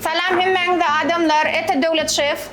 Salam hemmäňize adamlar Ete Döwlet şef.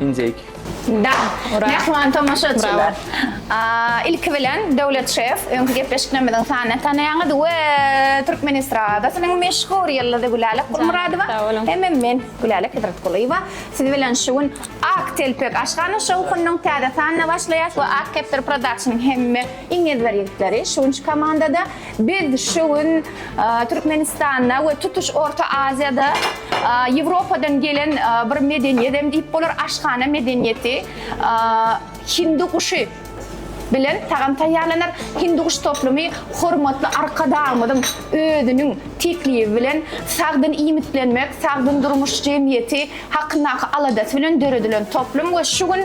Injek. Da, mähriban tomaşaçylar. Ilki bilen Döwlet şef, öňki gepleşiklerimiziň sanyny tanaýaňyz we türkmen estradasynyň meşhur ýyldyzy Gülälek Gulmyradowa hem-ä men Gülälek Hezretgulyýewa siz bilen şu gün Ak telpek aşhana şowhunynyň täze sanyna başlaýas we Ak kepdar production hem-ä iň ezber ýigitleri şu günki komandada Biz şu gün Türkmenistanda we tutuş Orta Aziýada Ýewropadan gelen bir medeniýet hem diýip bolar, aşhana medeniýeti. Hindi guşy bilen tagam taýýarlanar. Hindi guş toplumy hormatly Arkadagymyzyň özüniň teklibi bilen Sagdyn iýmitlenmek, sagdyn durmuş jemgyýeti hakyndaky aladasy bilen döredilen toplum we şu gün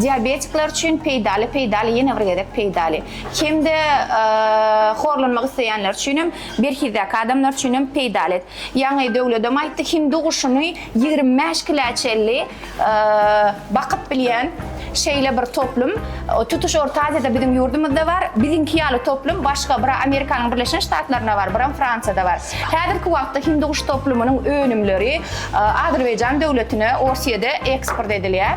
Diabetikler üçin peýdaly, peýdaly ýene bir gezek peýdaly. Hem-de horlanmak isleýänler üçin hem, berhizdäki adamlar üçin hem peýdaly. Ýaňy Döwledem aýtdy, hindi guşuny ýigrimi bäş kilä çenli bakyp bilýän şeýle bir toplum tutuş Orta Aziýada biziň ýurdumyzda bar. Biziňki ýaly toplum başga bira Amerikanyň Birleşen Ştatlarynda bar, biram Fransiýada bar. Häzirki wagtda hindi guş toplumynyň önümleri Azerbaýjan döwletine, Orsýede eksport edilýär.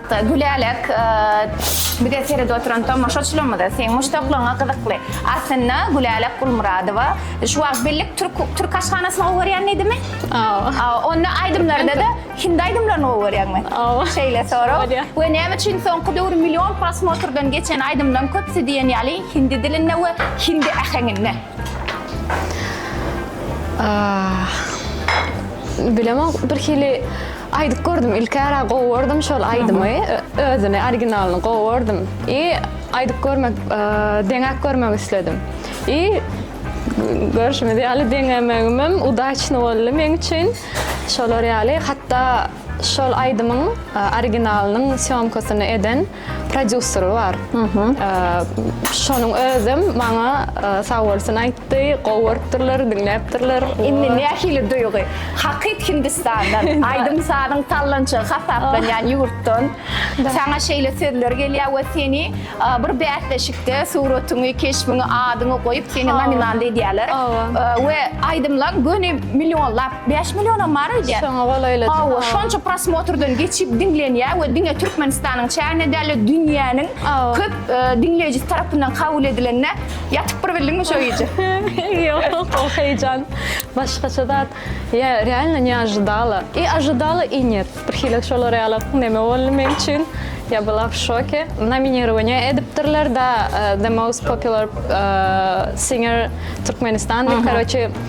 Gülälek, bize seredip oturan tomaşaçylarymyza seň muşdaklaryňa gyzykly. Aslynda Gülälek Gulmyradowa şu wagt birlik türk türk aşhanasyny gowy görýän diýdimi? Hawa. Onda aýdymlarda-da hindi aýdymlaryny gowy görýäňmi? Hawa. Şeýle sorag. We näme üçin soňky döwür million prosmotrdan geçen aýdymlaryň köpüsi diýen ýaly hindi dilinde we hindi äheňinde? Bilemok, birhili Aýdyp gördüm ilkära gowy gördüm şol aýdymy özüni originalyny gowy gördüm i aýdyp görmek deňäp görmek isledim i görşümiz ýaly deňämegimem udaçny boldy meň üçin şolar ýaly hatda şol aýdymyň originalynyň sýomkasyny eden prodýuseri bar. Şonuň özem maňa sag bolsun aýtdy, gowy görüpdirler, diňläpdirler. Indi nähili duýgy? Hakyt Hindistandan, aýdym-sazyň sallançagy hasaplanýan ýurtdan saňa şeýle sözler gelýär we seni bir bäsleşikde suratyňy, keşbiňi, adyňy goýup, seni nominant edýärler we aýdymlaň göni millionlap Bäş millionam bar öýdýän. Şoňa golaýladyň. Hawa, şonça prosmotrdan geçip diňlenýär we diňe Türkmenistanyň çäginde däl-de dünýäniň köp diňleýjisi tarapyndan kabul edilende ýatyp bir bildiňmi şo gije? Ýok, o heýjan başgaça zat. Ýa realno ne ojidala. I ojidala, i nýet. Birhili şolar ýaly neme boldy meň üçin. Ýa byla w şoke. Nominirowaniýa edipdirler da The Most Popular Singer Türkmenistan diýip, karoçi,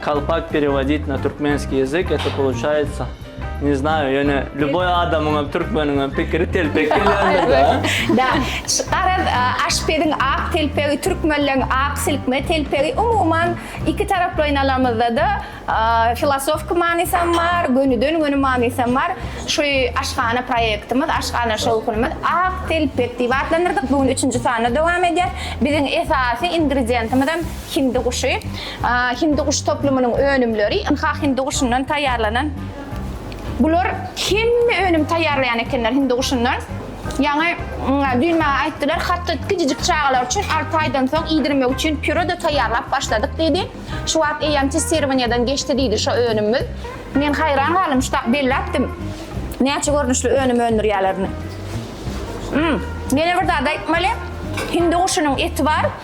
Kalpak perewodit na türkmenskiý ýazyk eto poluçaýtsa ne znaýu ýöne lýuboý adamyňam türkmeniňem pikiri telpek gelýändir da. Da şu garaz aşpeziň ak telpegi türkmenleň ak silkme telpegi umuman iki taraplaýyn alamyzdada filosofki manysam bar gönüden göni manysam bar şu aşhana proýektimiz aşhana şowhunymyz ak telpek diýip atlandyrdyk bu gün üçünji sanda dowam edýär biziň esasy ingredientimizem hindi guşy. Hindiguş toplumynyň önümleri, ynha hinduguşundan taýýarlanan bular hemme önüm taýýarlaýan ekenler hinduguşundan. Ýaňy düýn maňa aýtdylar, hatda kiçijik çagalar üçin alty aýdan soň iýdirmek üçin pýure-de taýýarlap başladyk diýdi. Şu wagt eýýäm testirowaniýeden geçdi diýdi şo önümimiz. Men haýran galdym, şutak belläpdim näçe görnüşli önüm öndürýärlerini. Ýene bir zat aýtmaly, hinduguşunyň eti bar,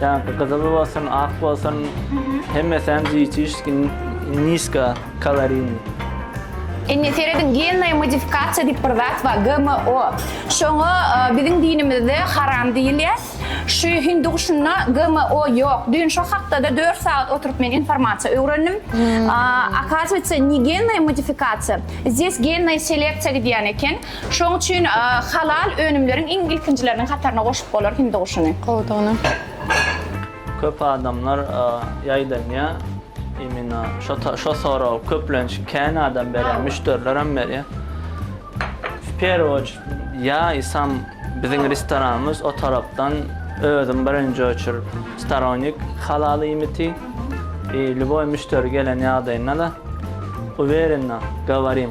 Janky gyzyl bolsun, ak bolsun, hemmesem diýçişki niska kalarini. Indi serediň gennaýa modifikasiýa diýip bir zat bar, GMO. Şoňa biziň dinimizde haram diýilýär. Şu hindi guşunda GMO ýok. Düýn şo hakda-da dört sagat oturyp men informasiýa öwrendim. Akazuýetsa, ne gennaýa modifikasiýa, zdes gennaýa seleksiýa gidýän eken. Şoň üçin halal önümleriň iň ilkinjileriniň hataryna goşup bolar hindi guşuny. Gowudygyna. Köp adamlar ýaýdanýa imina şo soragy köplenç kän adam berýä müşderilerem berýä w perwü oçerd ýa isam biziň restoranymyz o tarapdan özüm birinji oçerd storonik halal iýmiti i lýuboý müşderi gelen ýagdaýynda da uwerennä gawarim.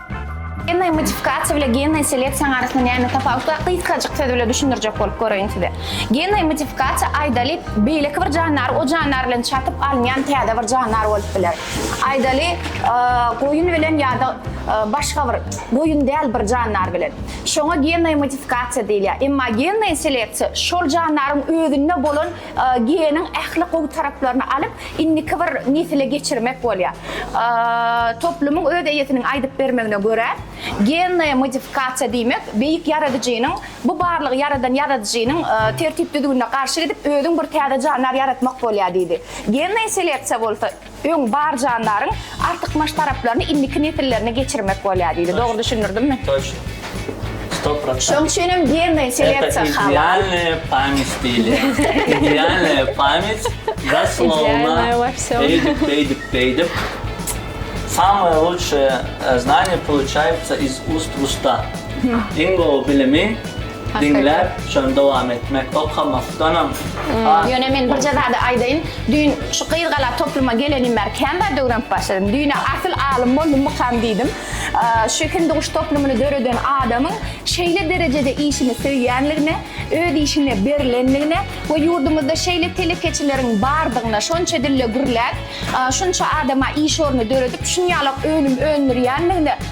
Gennaý modifikatsiýa bilen gennaý seleksiýaň arasynda näme tapawut bar? Gysgajyk söz bilen düşündirjek bolup göreýin size. Gennaý modifikatsiýa aýdaly beýleki bir jandar o jandar bilen çatyp alynýan täze bir jandar bolup biler. Aýdaly goýun bilen ýa-da başga bir goýun däl bir jandar bilen. Şoňa gennaý modifikatsiýa diýilýär. Emma gennaý seleksiýa şol jandaryň özünde bolan Geniň ähli gowy taraplaryny alyp, indiki bir nesile geçirmek bolýar. Toplumyň öz eýesiniň aýdyp bermegine görä, gennaýa modifikasiýa diýmek, beýik ýaradyjynyň, bu barlygy ýaradan ýaradyjynyň tertip-düzgünine garşy gidip, özüň bir täze jandar ýaratmak bolýar diýdi. Gennaýa seleksiýa bolsa, Öň bar jandaryň artykmaç taraplaryny indiki nesillerine geçirmek bolýar diýdi. Dogry düşündirdimmi? Toçno. Sto prosent. Şoň üçin hem gennoý seleksiýa halal. Idealnaýa pamýat diýilýär. Idealnaýa pamýat zaslowna eýdip, beýdip, beýdip. Samaýa lutşaýa znanýa poluçaýýatsa iz ust w usta. Iň gowy bilimi. Diňläp, şony dowam etmek, okamakdanam has. Ýöne men birje zady aýdaýyn, düýn şu gyz gala topluma gelenim bäri kän zat öwrenip başladym. Düýn-ä asyl alym boldummykam diýdim. Şu Hindiguş toplumyny döreden adamyň şeýle derejede işini söýýänligine, öz işine berlenligine we ýurdumyzda şeýle telekeçileriň bardygyna, şonça dilde gürläp, şunça adama iş orny döredip, şunýalak önüm öndürýänligine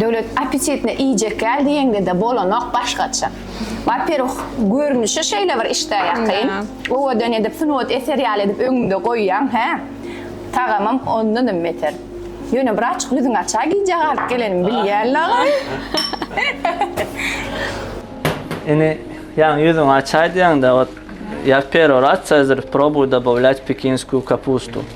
Döwlet apetitne iýjek ýaly diýeňde-de bolanok başgaça. Waperwuh, görnüşi şeýle bir işdä ýakyn. Owadan edip, sungat eseri ýaly edip öňüňde goýýaň, hä? Tagamam ondanam beter. Ýöne biraçyk ýüzüňi aç-a, gijä galyp gelenimi bilýän laý. Ine, ýaňy ýüzüňi açaýdýaň-da, ot, ýa perorasiýa zr probuj dobawlýat pekinskýu kapustu.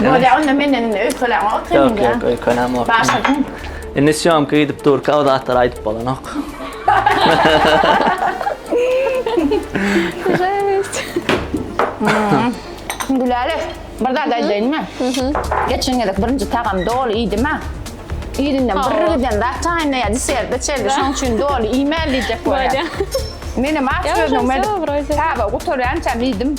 Bolýa onda menden indi öýkelän ot sen indi. Ýok, öýkelän ot. Başladyň. Indi syýomka gidip durka o zatlary aýdyp bolanok. Жесть. Güläle, bir zat aýdaýynmy? Geçen gezek birinji tagam doly iýdim-ä. Irinden bir giden zat çaýynda ýa deserde içerdi, şonuň üçin doly iýmän diýjek bolýar. Menem aç gözlügim edip, taba gutarýançam iýdim.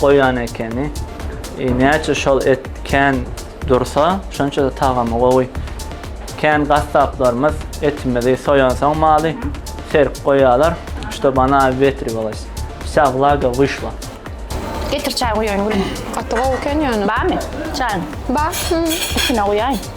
Goýan ekeni. Näçe şol et kän dursa, şonça-da tagamy gowy. Kän gassaplarymyz etimizi soýansoň maly, serip goýýarlar. Ştob ona wetriwalys. Wsa wlaga wyşla. Getir çaý guýaýyn gülüm. Gaty gowy eken ýöne. Barmy çaýyň? Bar. Üstüne guýaýyn.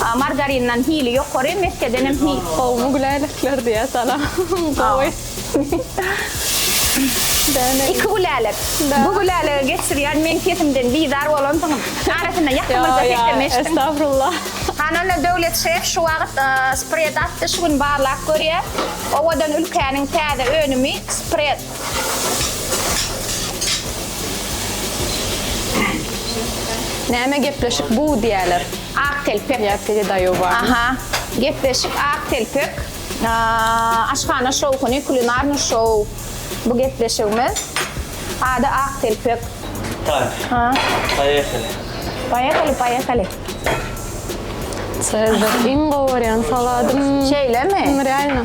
A margarindan hili ýokary, meskedenem hi. Gowmy gülälekler diýýä salam. Gowy. Däne. Iki gülälek. Bu gülälege geçirýän meň sesimden bizar bolansyňyz. Arasynda ýakymyzda seslenme eşitdim. Estagfirullah. Hany onda Döwlet şef şu wagt spred atdy şu gün barlap görýä. Owadan ülkäniň täze önümi spred. Näme gepleşik bu diýerler. Ak telpek. Ýa teje daýow bar. Aha. Gepleşik ak telpek. Aşhana şowhuny kulinarny şow. Bu gepleşigimiz. Ady ak telpek. Tak. Ha. Poýehali. Poýehali poýehali. Çezer iň gowy görýän saladym. Şeýlemi? Realno.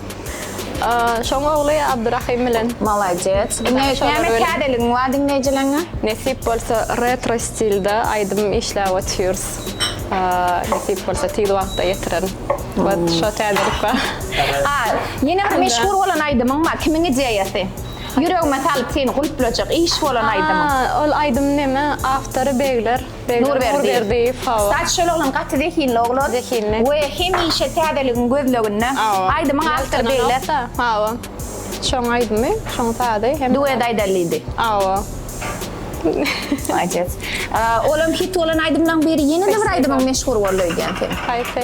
Şoň ogly Abdurahym bilen. Malades. Ine näme täzeligiň bar diňleýjilerňe? Nesip bolsa retro stilde aýdym işläp otyrys. Nesip bolsa tiz wagtda ýetiren. Wot şo täzelik bar. Ha, ýene bir meşhur bolan aýdymyň bar. Kimiň ideýasy? Ýüregime salyp seni gulplajak iş bolan aýdymyň. Ol aýdym näme? Awtory Begler. Nurberdiýew. Stat şol oglan gaty zehinli oglan. Zehinli. We hemişe täzeligiň gözleginde. Hawa. Aýdymyň awtory beýle. Hawa. Şoň aýdymy, şoň sazy. Duet aýdalydy. Hawa. Maladýes. Olam hit bolan aýdymlaň biri. Ýene-de bir aýdymyň meşhur boldy öýdýän sen. Haýsy?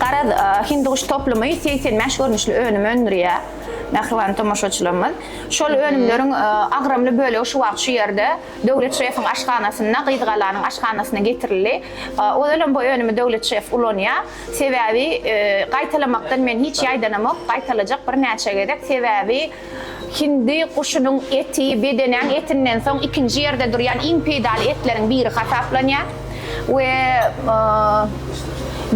Garaz, Hindiguş toplumy segsen bäş görnüşli önüm öndürýär, mähriban tomaşaçylarymyz. Şol önümleriň agramly bölegi şu wagt şu ýerde, Döwlet şefiň aşhanasynda, Gyzgalanyň aşhanasyna getirildi. Ozalam bu önümi Döwlet şef ulanýar. Sebäbi, gaýtalamakdan men hiç ýaýdanamok, gaýtalajak birnäçe gezek. Sebäbi, Hindi guşunyň eti bedenäň etinden soň ikinji ýerde durýan iň peýdaly etleriň biri hasaplanýar we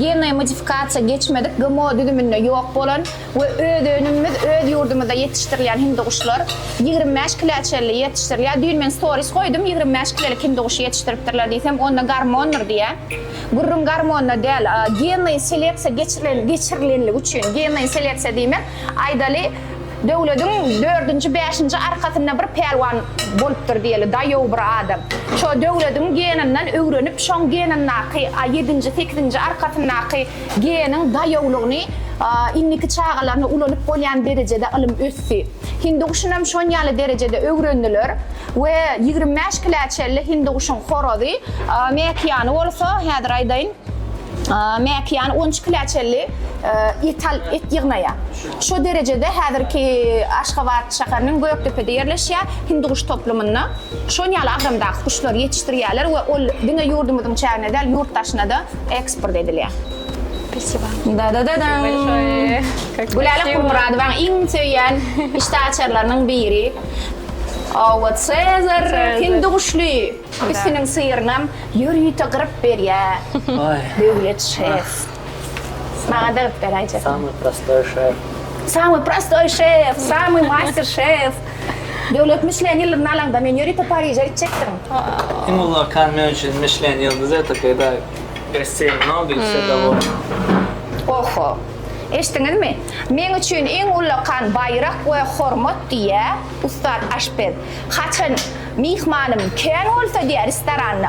genleý modifikasiýa geçmedik GMO düzüminde ýok bolan we öz önümimiz öz ýurdumyzda ýetişdirilýän hindiguşlar ýigrimi bäş kilä çenli ýetişdirilýär. Düýn men storis goýdum, ýigrimi bäş kilelik hindiguşy ýetişdiripdirler diýsem, onda gormondyr diýýär. Gürrüň gormonda däl, genleý seleksiýa geçirilenligi üçin, genleý seleksiýa diýmek, aýdaly, Döwlediň dördünji bäşinji arkasynda bir pälwan bolupdyr diýeli daýow bir adam. Şo Döwlediň geninden öwrenip şoň genindaky a ýedinji sekizinji arkasyndaky geniň daýowlygyny a indiki çagalaryna ulanyp bolýan derejede ylym ösdi. Hinduguşynam şonýaly derejede öwrendiler we ýigrimi bäş kilä çelli hinduguşyň horazy a mäkiýany bolsa häzir aýdaýyn a mäkiýany on üç kilä çelli et al et ýygnaýa. Şo derejede häzirki Aşgabat şäheriniň Gökdepede ýerleşýär, Hindiguş toplumynda şon ýaly agramdaky guşlary ýetişdirýärler we ol diňe ýurdumyzyň çägine däl, ýurt daşyna-da eksport edilýär. Spasiba. Dadadadam. Gülälek Gulmyradowaň iň söýýän işdäaçarlarynyň biri. Owo Sezar hindiguşly üstüniň syrynam ýörite gyryp berýär Döwlet şef. Maňa dagyp ber aýjak. Samyý prostoý şef. Samyý prostoý şef, samyý master şef. Döwlet Michelin ýyldyzyny alaňda men ýörite Pariže gitjekdirin. Iň uly okean men üçin Michelin ýyldyzy etokey daýyp. Besseýn Nobil wsedawoýny. Oho. Eşdiňizmi? Meň üçin iň uly okean baýrak we hormat diýýär ussat aşpez. Haçan myhmanym kän bolsa diýýär restoranda.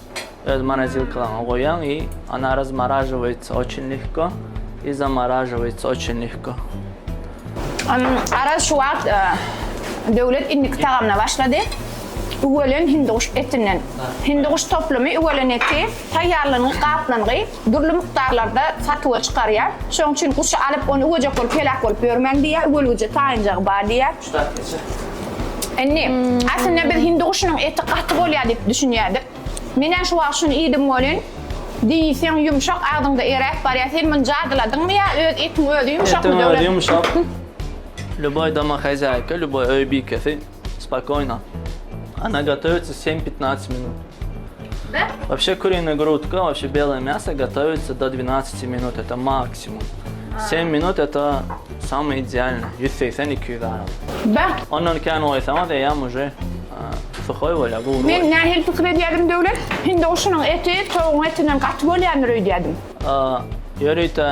Öz morozilkalaňa goýaň i ona razmaražowaýtsa oçin lehko i zamaražowaýtsa oçin lehko. Araz şu wagt Döwlet indiki tagamyna başlady. Üwelen hindiguş etinden. Hindiguş toplumy üwelen eti taýýarlygynyň gatlanygy dürli mukdarlarda satuwa çykarýar. Şonuň üçin guşy alyp, ony üwejek bolup heläk bolup ýörmäň diýýär. Üwelgije taýynjagy bar diýýär. Indi, aslynda biz hindi guşunyň eti gaty bolýar diýip düşünýärdik. Menem şu wagt şuny iýdim welin, diýseň ýumşak, agzyňda eräp barýar. Sen muny jadyladyňmy ýa öz etiň özi ýumşakmy Döwlet? Etiň özi ýumşak. Lýuboý doma hazaýka, lýuboý öý bikesi spokoýno ona gotowitsa sem-pitnajt minut. Wobşe kurine grudka, wobşe bele mýaso gotowitsa do dwinajti minut, eto maksimum. Sem minut, eto. Samy idealny, ýüz segsen iki ýüz arasy. Beh! Ondan kän goýsaňyz eýýäm uje suhoý bolýar, gury. Men nähili pikir edýärdim, Döwlet? Hindowşunyň eti towugyň etinden gaty bolýandyr öýdýärdim. Ýörite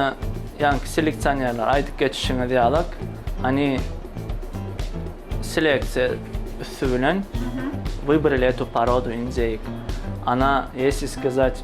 ýaňky seleksionerler aýdyp geçişiňiz ýalyk, any seleksiýa üsti bilen wybirali etü porodu indeýk. Ana, ýesi skazat.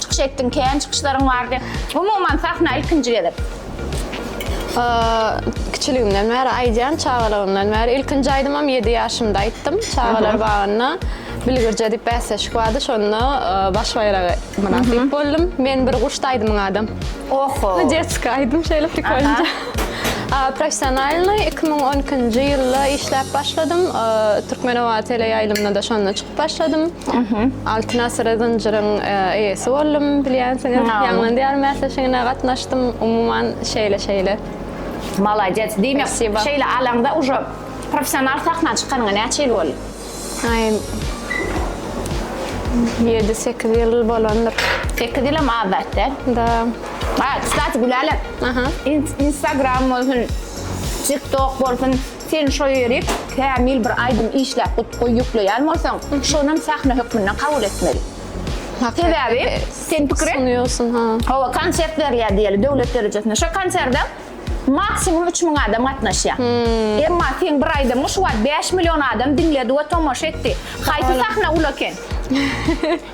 Çykyş etdiň, kän çykyşlaryň bardy. Umuman sahna ilkinji gezek. Kiçiligimden bäri aýdýan, çagalygymdan bäri. Ilkinji aýdymym 7 ýaşymda aýtdym. Çagalar bagynda Bilgirje diýip bäsleşik bardy. Şonda baş baýragy mynasyp boldum. Men bir guş aýdymyň adam. Oho. Detski aýdym şeýle prikolnja. Professionalny 2012-nji ýylda işläp başladym. Türkmenowa teleýaýlymyna da şonda çykyp başladym. Altyn asyr zynjyryň e, eýesi boldum, bilýänsiňiz. Ýangyn diýar mäsleşigine gatnaşdym. Umuman şeýle şeýle. Maladýet. Diýmek, şeýle alaňda uje professional sahna çykanyňa näçe ýyl boldy? Aý. 7-8 ýyl bolandyr. 8 ýyl hem az zat däl. Da. Ha, kstati, Gülälek. Aha. Instagram bolsun, TikTok bolsun, Sen şo ýeri kämil bir aýdym işläp gutgy ýükleýän bolsaň, şonam sähne hökmünde kabul etmeli. Sebäbi sen pikir et, sunýorsyň, ha. Hawa, konsert berýär diýeli döwlet derejesinde. Şo konserde maksimum üç müň adam gatnaşýar. Emma seň bir aýdymyňy şu wagt bäş million adam diňledi we tomaşa etdi. Haýsy sähne uly eken?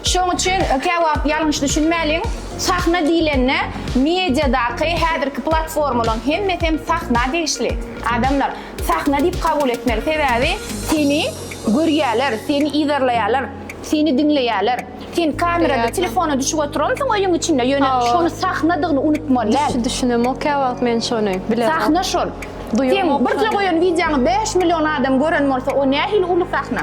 Şoň üçin käwagt ýalňyş düşünmäliň, sahna diýlende mediadaky häzirki platformalaň hemmesem sahna degişli. Adamlar sahna diýip kabul etmeli, sebäbi seni görýäler, seni yzarlaýalar, seni diňleýäler. Sen kamerada telefona düşüp oturansyň öýüň içinde, ýöne şony sahnadygyny unutmaly däl. Düş düşünemok käwagt men şony, bilemok. Sahna şol. Sen birje goýan wideoňy bäş million adam gören bolsa, o nähili uly sahna.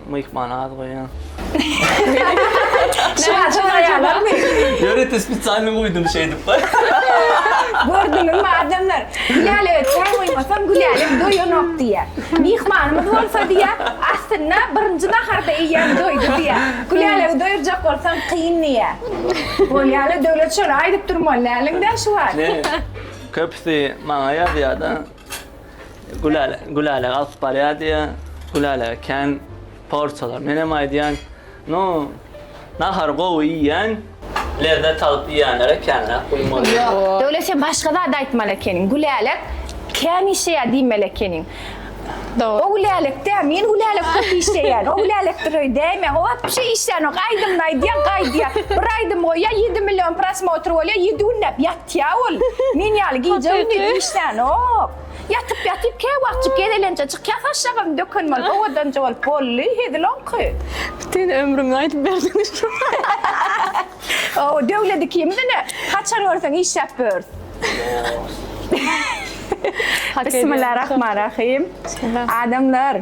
Myhmana az goýýan. Şuňa soraýarlar. Ýörite spesialny guýdum şeýdip. Gördüňizmi adamlar? Gülälege çaý goýmasaň Gülälek doýanok diýýär. Myhmanymyz bolsa diýýär, aslynda birinji naharda iýýän doýdy diýýär. Gülälegi doýurjak bolsaň kyn diýýär. Bolýa-le Döwlet şony aýdyp durmaly däliň-dä şu wagt. Köpüsi maňa ýazýa-da. Gülälä, Gülälä alyp barýar diýýär. Gülälä kän porsiýalar. Menem aýdýan, no, nahary gowy iýýän, lezzet alyp iýýänlere känräk guýmaly. Ýok, Döwlet sen başga zat aýtmaly ekeniň. Gülälek kän işeýär diýmeli ekeniň. Dogry. O Gülälek däl, men Gülälek köp işeýän. O Gülälekdir öý däýmäň. O wapşe işlänok. Aýdymyny aýdýar, gaýdýar. Bir aýdym goýýar, ýedi million prosmotr bolýar, ýedi günläp ýat. Tiaul, men ýaly gije-gündiz işlänok. Ýatyp ýatyp käwagtjyk gezelenje çykýa saçjagazyny döken bolup owadanja bolup bolly hezil oňky. Bütin ömrüňi aýdyp berdiň Ow döwlet ikimiz ine haçan görseň işläp börs. Bismillah rahman rahym. Adamlar.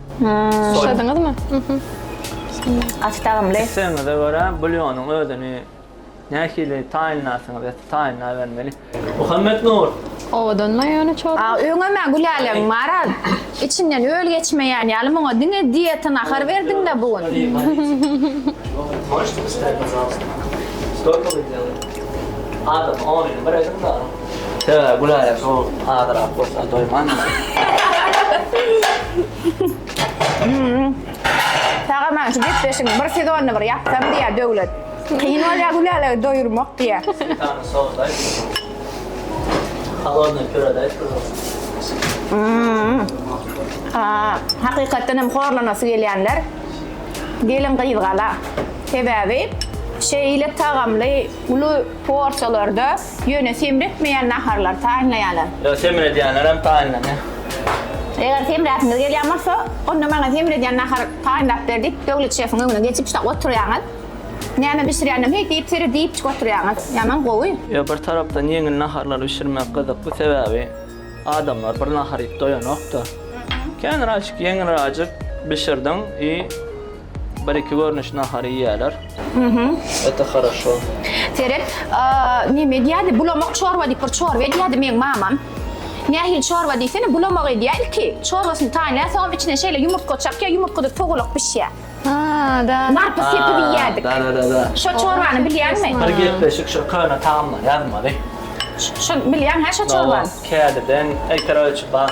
Soýduňyzmy? Gaty dagymly. Islegiňize görä bulýonyň özüni nähili taýynlarsyňyz ýa-da taýynlabermeli. Muhammetnur! Owadanma ýöne çorba. A öňem-ä Gülälem bara içinden öl geçmeýän ýaly muňa diňe dieta nahar berdiň-dä bu gün. Adama onyny bir ediň-de. Söýä güläýe şol azyrak bolsa doýman. Tagaman şu gepleşigiň bir sezonyny bir ýapsam diýýä Döwlet. Kyn bolýa Gülälegi doýurmak diýýä. Smetana sosdaý. Halodnyý püredäý püre. Haa hakykatdan hem horlanasy gelýänler gelin gyzgala. Sebäbi şeýle tagamly uly porsiýalarda Ýöne semretmeýän naharlary taýynlaýarlar. Ýok, semredýänlerem taýynlanýar. Eger semräsiňiz gelýän bolsa, onda maňa semredýän nahar taýynlap ber diýip, Döwlet şefiň öňüne geçip şa oturýaňyz. Näme bişirýändem heý diýip seret diýipjik oturýaňyz. Ýaman gowy. Ýok, bir tarapdan ýeňil naharlary bişirmek gyzykly, sebäbi adamlar bir nahar iýip doýanok-da. Känraçyk, ýeňilräjik bişirdiň i Bir iki görnüş nahary iýýäler. Ete haraşo. Seret, neme diýädi? Bulamak çorba diýip bir çorba edýädi meň mamam. Nähili çorba diýsene, bulamak edýär ilki. Çorbasyny taýynlar, soňam içine şeýle ýumurtga çakýar, ýumurtgadyr togulak bişýär. Ha, da. Narpyz sepip iýýärdik. Da, da, da, da. Şo çorbany bilýäňmi? Bir gepleşik şo köne tagamlar ýazmaly. Şony bilýäň hä şo çorbany? Hawa, kädiden, äýter ölçüp bar.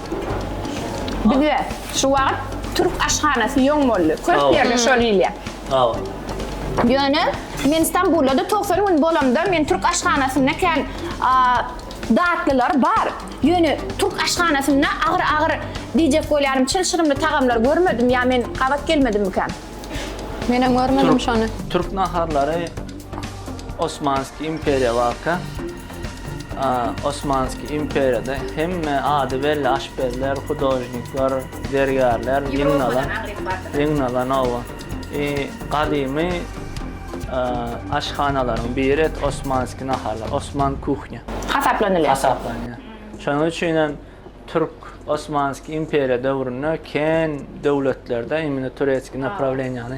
Bizde şu wagt türk aşhanasy ýoň boldy. Köp Hawa. ýerde şol iýilýär. Hawa. Ýöne men Stambulda-da togsan gün bolamda men türk aşhanasynda kän a, datlylar bar. Ýöne türk aşhanasynda agyr-agyr diýjek bolýarym, çylşyrymly tagamlar görmedim. Ýa men gabat gelmedimmikäm? Menem görmedim şony. Türk naharlary Osmanskiý imperiýa wagtky. Osmanski imperiýada hemme ady belli aşpezler, hudožnikler, zergärler ýygnalan, ýygnalan oba. Gadymy aşhanalaryň biri et Osmanski naharlar, Osman kuhnya. Hasaplanylýar. Hasaplanýar. Şonuň üçin hem türk Osmanski imperiýa döwründe kän döwletlerde imенно turetski naprawleniýany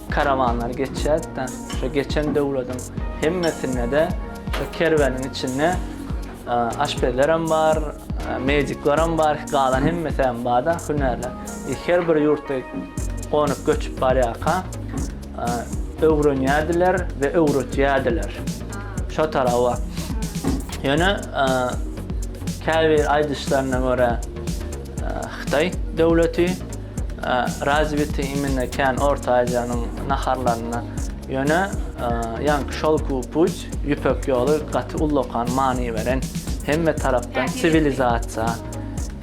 Karawanlar geçýärdi-de, şo geçen döwletiň hemmesinde-de şo kerweniň içinde aşpezlerem bar, mediklerem bar, galan hemmesi hem bar-da, hünärler. E, her bir ýurtda gonup göçüp barýarka, öwrenýärdiler we öwretýärdiler. Şo taraba. Ýöne käbir aýdyşlaryna görä Hytaý döwleti Razwiti imенно kän Orta Aziýanyň naharlaryna ýöne ýaňky Şelkowy puç, Ýüpek ýoly gaty ullakan many beren, hemme tarapdan siwilizasiýa,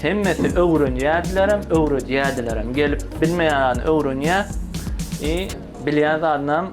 hemmesi öwrenýärdilerem, öwredýärdilerem, gelip bilmeýän adam öwrenýär, i bilýän zadynam,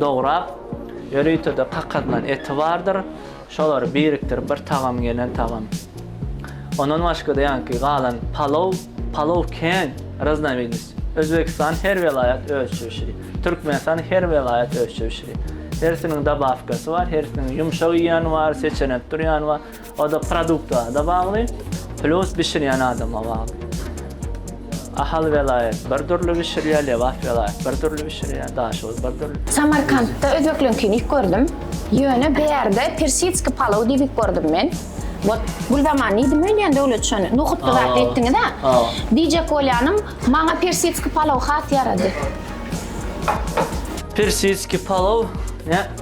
dograp, ýörite-de kakadylan eti bardyr. Şolary birikdirip bir tagam gelen tagam. Ondan başga-da ýaňky galan palow, palow kän raznowidnost. Özbegistan her welaýat özçe bişirýär. Türkmenistan her welaýat özçe bişirýär. Hersiniň dabawkasy bar, hersiniň ýumşak iýýäni bar, seçenekdir ýany bar. O-da produkta-da bagly, plus bişirýän adama bagly. Ahal welaýat bir dürli bişirýär, Lebap welaýat bir dürli bişirýär, Daşoguz bir dürli. Samarkantda özbekleňkini iýip gördüm. Ýöne bärde persitskiý palaw diýip iýip gördüm men. Wot, Gülzaman diýdim öýdýän döwlet şony, nohutly zat etdiňiz-ä. Diýjek bolýanym, maňa persitskiý palaw has ýarady. Persitskiý palaw, nä?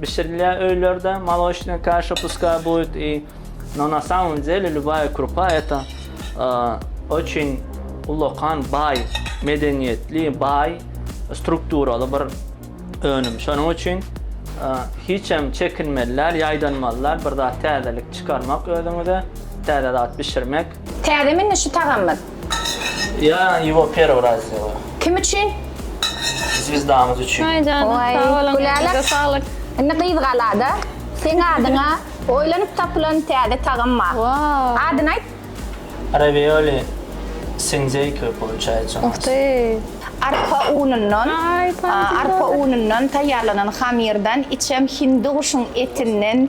Bişirilýä öýlerde molosnaya kaşa puskay buýt i no na samom dele lubaya krupa eta oçin ullakan baý medeniýetli baý strukturaly bir önüm şonuň üçin hiçem çekinmeli däl ýaýdanmaly däl bir zat täzelik çykarmak özüňize täze zat bişirmek. Täzemi indi şu tagamyz? Ýa ýuwa perwy raz ýa. Kim üçin? Zwizdamyz üçin. Aý janyň Oý, sag boluň Gülälek. elinize saglyk. Indi gyz galada. Seň adyňa oýlanyp tapylan täze tagam bar. Waww. Adyny aýt. Ravioli sinzeýka poluçaýýa u nas. Uhty. Arpa unundan Aý, tam arpa unundan taýýarlanan hamyrdan içem hindi guşuň etinden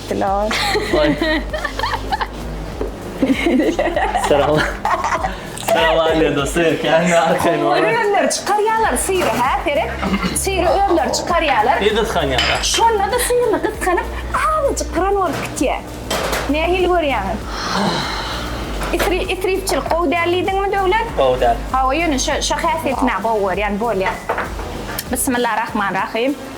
Dilawer. Oý. Salam. Salam aýle dosty. Kän arkaýyn. Olar özleri çykarýarlar syry hä seret. Syry özleri çykarýarlar. Ýa gysganýarlar. Şonda-da syryny gysganyp azajyk pyran bolup gitýär. Nähili görýäňiz? Isri isripçilik gowy däl diýdiňmi Döwlet? Gowy däl. Hawa ýöne şo şo häsiýetini-ä gowy görýän bolýar. Bismillah rahman rahym.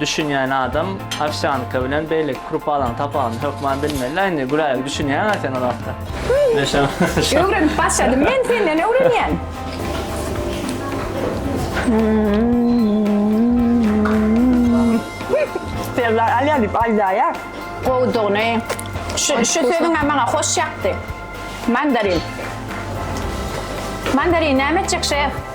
Düşünýän adam owsýanka bilen beýleki krupalaryň tapawudyny hökman bilmeli-la indi, Güläýgi düşünýäň-ä sen ol hakda. Men şa, şa. Öwrenip başladym men senden öwrenýän. Serdar alýar diýip aýdaýar. Gowudygyny, şu, şu sözüň-ä maňa hoş ýakdy. Mandarin. Mandarin näme etjek şef?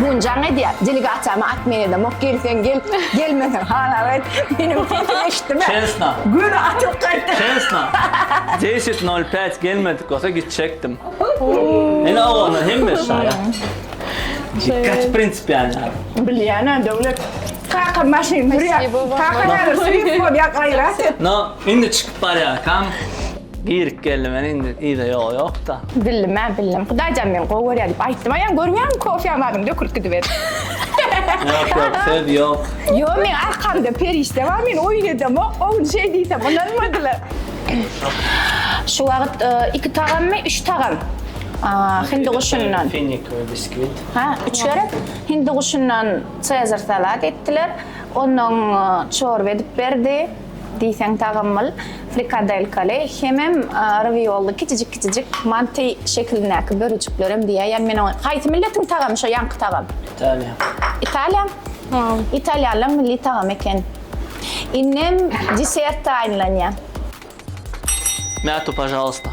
Bugün can edýär. Delegasiýamy at men edem. Ok gelsen gel, gelmesen halal et. Meniň sesimi eşitdiňmi? Çesna. Gün atyp gaýtdy. Çesna. 10.05 gelmedik bolsa gitjekdim. Ene oglanlar hemmesi şaýat. Kaç prinsipialny adam. Bilýän-ä Döwlet. Kaka maşyn sürýär. Kaka näme sürýär? Ýa gaýrat et. No, indi çykyp barýarkam. Girip geldim men indi iyda yok yok da. Bildim ben bildim. Hudaýjan men gowy görýär diýip aýtdym. Aýan görmeýärmi kofýa badyny dökülip gidiberdi. Yok yok söz yok. Yo men arkamda perişde bar men oýun edemok. Oň şey diýsem ynanmadylar. Şu wagt e, iki tagammy, üç tagam. Aa, Hindi guşundan. Finik ve bisküvit. Ha, üç gerek. Hindi guşundan Caesar salat etdiler. Ondan e, çorba edip berdi. Diýseň tagammyl, frikadelkaly hemem rawiolly kiçijik-kiçijik manty şekilindäki bölejiklerem diýäýen men oňa. Haýsy milletiň tagamy şo ýaňky tagam? Italiýa. Italiýa? Italiýanlaň milli tagamy eken. Indem desert taýynlanýar. Mäto pažalysta.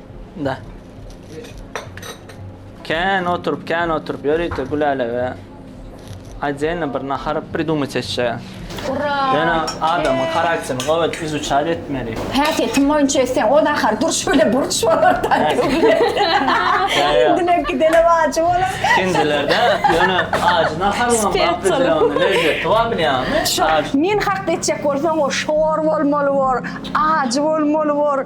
Da. Kän oturup, kän oturup ýörite Gülälege Aýdýan bir nahar pridumyt etjä. Ura! Ýöne adamyň harakterini gowy edip izuçar etmeli. Häsiýetim boýunça etseň, o nahar durş bile burç bolar da. Dine gidene wajy bolar. Kendilerde ýöne ajy nahar bolan bapyzlaryň lezzeti bar bilýäňmi? Şo, men hakda etjek bolsaň, o şor bolmaly bor, ajy bolmaly bor.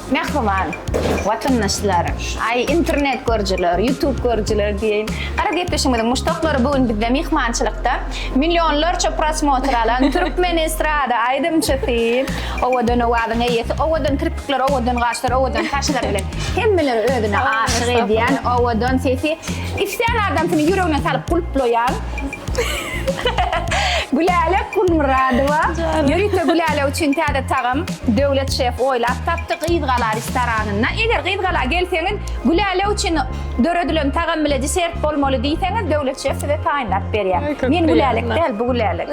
Mähriban watandaşlar, aý internet görüjiler, ýutub görüjiler diýeýin. Garagepleşigimiziň muşdaklary bu gün bizde myhmançylykda millionlarça prosmotr alan türkmen estrada aýdymçysy, owadan owazyň eýesi, owadan kirpikler, owadan gaşlar, owadan saçlar bilen hemmeleri özüne aşyk edýän, owadan sesi islän adamsyny ýüregine salyp gulplaýan, Gülälek Gulmyradowa, ýörite Gülälek üçin täze tagam Döwlet şef oýlap tapdy Gyzgala restoranynda. Eger Gyzgala gelseňiz, Gülälek üçin döredilen tagam bile desert bolmaly diýseňiz, Döwlet şef size taýynlap berýär. Men Gülälek däl, bu Gülälek.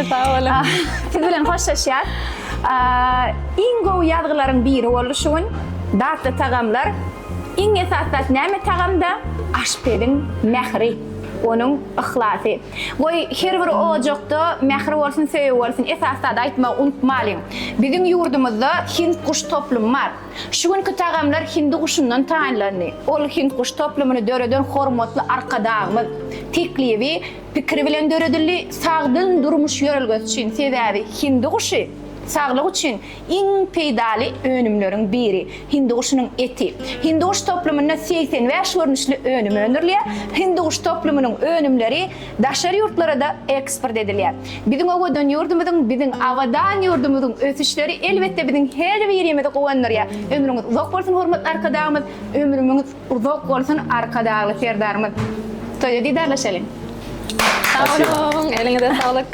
Sag boluň. Siz bilen hoşlaşýas. Iň gowy ýazgylaryň biri boldy şu gün. Datly tagamlar. Iň esas zat näme tagamda? Aşpeziň mähri. Onuň yhlasy. Goý, her bir ojakda mähir bolsun, söýgi bolsun. Esas zady aýtmagy unutmalyň. Biziň ýurdumyzda hind guş toplumy bar. Şu günki tagamlar hindi guşundan taýynlandy. Ol hind guş toplumyny döreden hormatly Arkadagymyz teklibi, pikiri bilen döredildi, sagdyn durmuş ýörelgesi üçin. Sebäbi hindi guşy saglyk üçin Iň peýdaly önümleriň biri, hindiguşynyň eti. Hindiguş toplumynda segsen bäş görnüşli önüm öndürilýär. Hindiguş toplumynyň önümleri daşary ýurtlara-da eksport edilýär. Biziň owadan ýurdumyzyň, biziň abadan ýurdumyzyň ösüşleri elbetde biziň her birimizi guwandyrýar. Ömrüňiz uzak bolsun hormatly Arkadagymyz. Ömrümiňiz uzak bolsun Arkadagly Serdarymyz. Toýda didarlaşalyň. Sag boluň, eliňize saglyk.